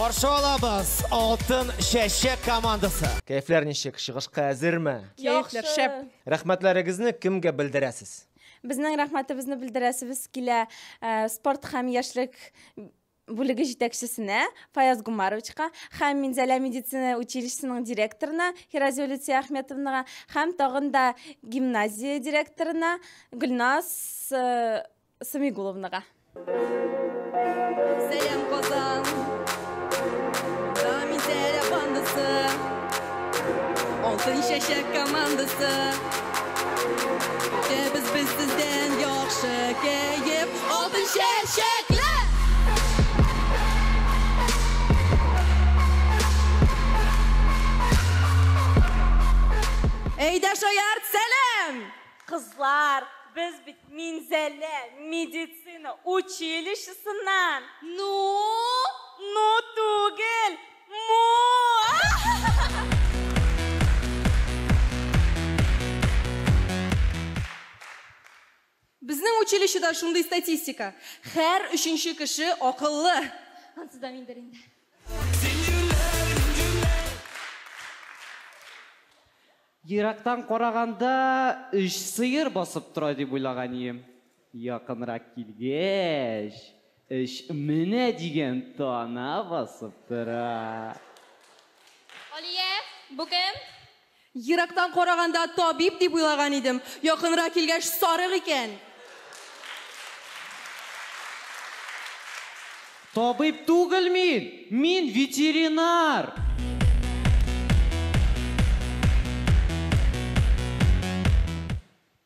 Каршы алабыз Алтын чәчәк командасы. Кәефләр ничек? Чыгышка әзерме? Кәефләр шәп. Рәхмәтләрегезне кемгә белдерәсез? Безнең рәхмәтебезне белдерәсебез килә э, спорт һәм яшьлек бүлеге җитәкчесенә Фаяз Гумаровичка һәм Минзәлә медицина училищесының директорына Хиразия Люция Ахметовнага һәм тагын да гимназия директорына Гөлназ э, Самигуловнага. Сәлам, Казан! Алтын чәчәк командасы Көтәбез без сездән яхшы кәеф Алтын чәчәкле! Әйдә шаярт, сәлам! Кызлар, без бит Минзәлә медицина училищесыннан! Ну? Ну түгел! Безнең училищеда шундый статистика. Хәр өченче кеше акыллы. Ансы да миндер инде. Ерактан караганда өч сыер басып тора дип уйлаган ием. Якынрак килгәч, эш менә дигән тана басып тора. Алия, бу кем? Ерактан караганда табиб дип уйлаган идем, якынрак килгәч, сарык икән. Табиб түгел мин, мин ветеринар!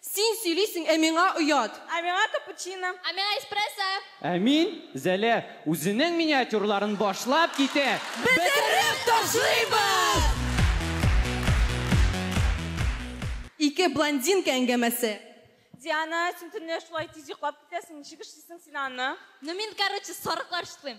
Син сөйлисең, ә миңа оят. Ә миңа капучино. Ә миңа эспрессо. Ә мин, Зәлә, үзенең миниатюрларын башлап китә. Бетереп ташлыйбыз! Ике блондинка әңгәмәсе. Диана, син төнлә шулай тиз йоклап китәсең, ничек эшлисең син аны? Ну мин, короче, сарыклар чытлыйм.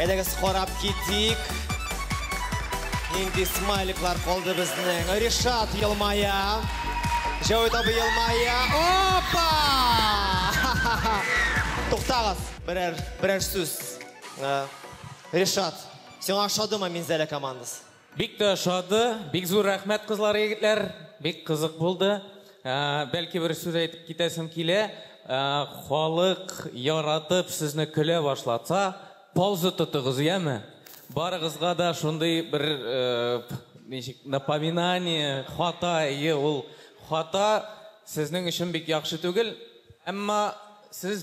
Әйдәгез карап китик. Нинди смайликлар калды безнең. Ришат елмая. Җәүит абый елмая. Опа! Туктагыз. Берәр берәр сүз. Э, Ришат, сиңа ошадымы Минзәлә командасы? Бик тә ошады, бик зур рәхмәт кызлар, егетләр, бик кызык булды. Ә, бәлки бер сүз әйтеп китәсем килә, Ә, халык яратып сезне көлә башлатса, пауза тотыгыз, яме? Барыгызга да шундый бер э, ничек напоминание, хата, е, ул хата сезнең өчен бик яхшы түгел, әмма сез